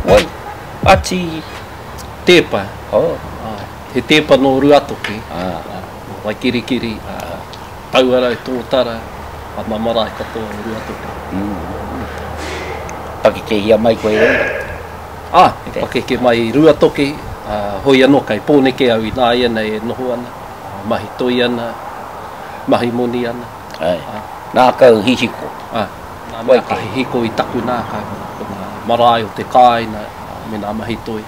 Wai, ati teepa, he teepa no Ruatoki, no Waikirikiri, Tauarau, Totara, ana marae katoa o Ruatoki. Pakekehia mai koe i reira? Ah, pakeke mai i Ruatoki, hoi ano kai Poneke au ina ianei e noho ana. Mahi toi ana, mahi moni ana. Ae, ngākau hihiko. Ae, ngā mea ka hihiko i taku ngākau, ko ngā marae o te kāina me ngā mahi toi,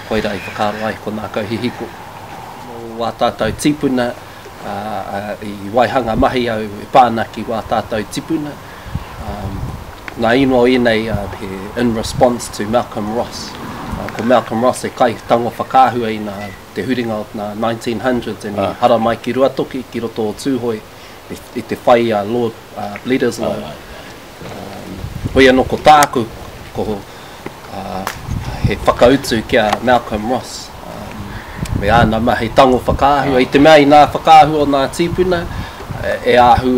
koirā i whakaaro ai ko ngākau hihiko. Mō wā tātau tīpuna, i waihanga mahi au e pā ana ki wā tātau tipuna, ngā ingoa ēnei he in response to Malcolm Ross. Ko Malcolm Ross he kaitango whakaahua i ngā. te huringa o ngā 1900s and i hara mai ki Ruatoki, ki roto o Tūhoe, i te whai a Lord Bledisloe. Hoi anō ko tāku, ko he whakautu ki a Malcolm Ross, me āna mahi tango whakaahua, i te mea i nā whakaahua o nā tīpuna, e ahu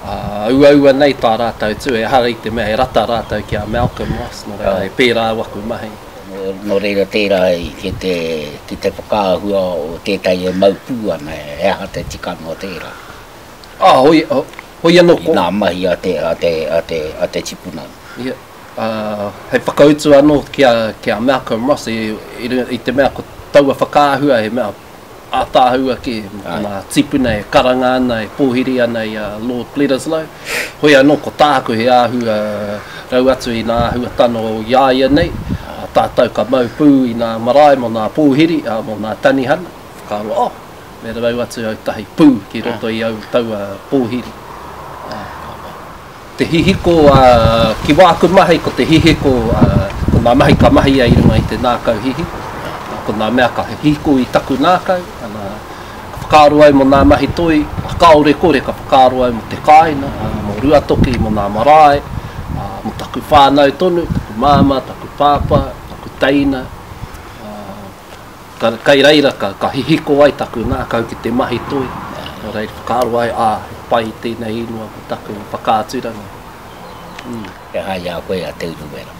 auaua nei tā rātou tū, ehara i te mea e rata rātou ki a Malcolm Ross, nō reira e pērā au aku mahi. Nō reira tērā ki te ki te whakaahua o tētahi e mau pū ana, he aha te tikanga o tērā? Ā, hoi, hoi anō ko. I ngā mahi a te, a te, a te, a te tipuna. Ia, ā, hei whakautu anō ki a, ki a Malcolm Ross i, i runga, i te mea ko taua whakaahua he mea. ātaahua kē, nā tīpuna e karanga ana, e pōhiri ana i a Lord Bledisloe. Hoi anō, ko tāku he āhua rau atu i nā āhua tano i a ia nei, tātou ka mau pū i nā marae mō nā pōhiri, ā, mō nā tanihana, whakaaro, oh, me rau atu au tahi pū ki roto i au taua pōhiri. Ā. Te hihiko, ā, ki wāku mahi ko te hihiko, ā, ko ngā mahi ka mahia i runga i te nākau hihiko, ā, ko ngā mea ka hihiko i taku nākau, ā, ka whakaaro au mō ngā mahi toi, ā, kāore kore ka whakaaro au mō te kāina, ā, mō Ruatoki, mō ngā marae, ā, mō taku whānau tonu, taku māmā, taku pāpā, taku teina, ā. Tana kai reira ka, ka hihiko ai taku ngakau ki te mahi toi, nō reira whakaaro ai, ā, he pai tēnei ingoa ko taku whakaaturanga. Mm. He aha i a koe a Te Urewera?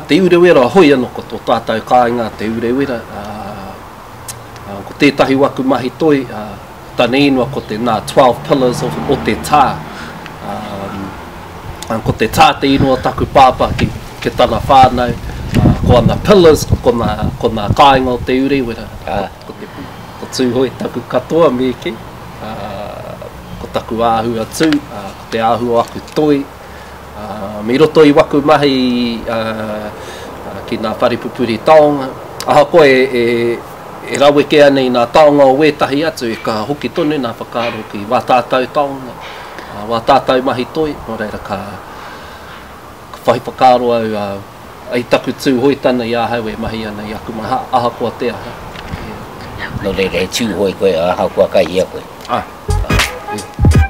Te Urewera, hoi anō ko tō tātou kāinga Te Urewera, ā, ā, ko tētahi o aku mahi toi, ā, Tana ingoa ko te nā Twelve Pillars of o te tā. Um, ko te tā te ingoa taku pāpā ki, ki tana whānau. Uh, ko ana pillars, ko nā, ko nā kāinga o te urewera. Uh, ko, te, ko Tūhoe taku katoa mīki. Uh, ko taku āhua tū, uh, ko te āhua o aku toi. Um, I roto i waku mahi uh, ki ngā whare pupuri taonga, ahakoa e, e, e rawekea nei ngā taonga o wētahi atu, e ka hoki tonu ngā whakaaro ki wā tātau taonga, uh, wā tātau mahi toi, nō reira ka, ka whai whakaaro au uh, I taku Tūhoe tana i ahau e mahi ana i aku maha, ahakoa te aha. Yeah. No reira, he Tūhoe koe, ahakoa kai hea koe. Ah. Yeah.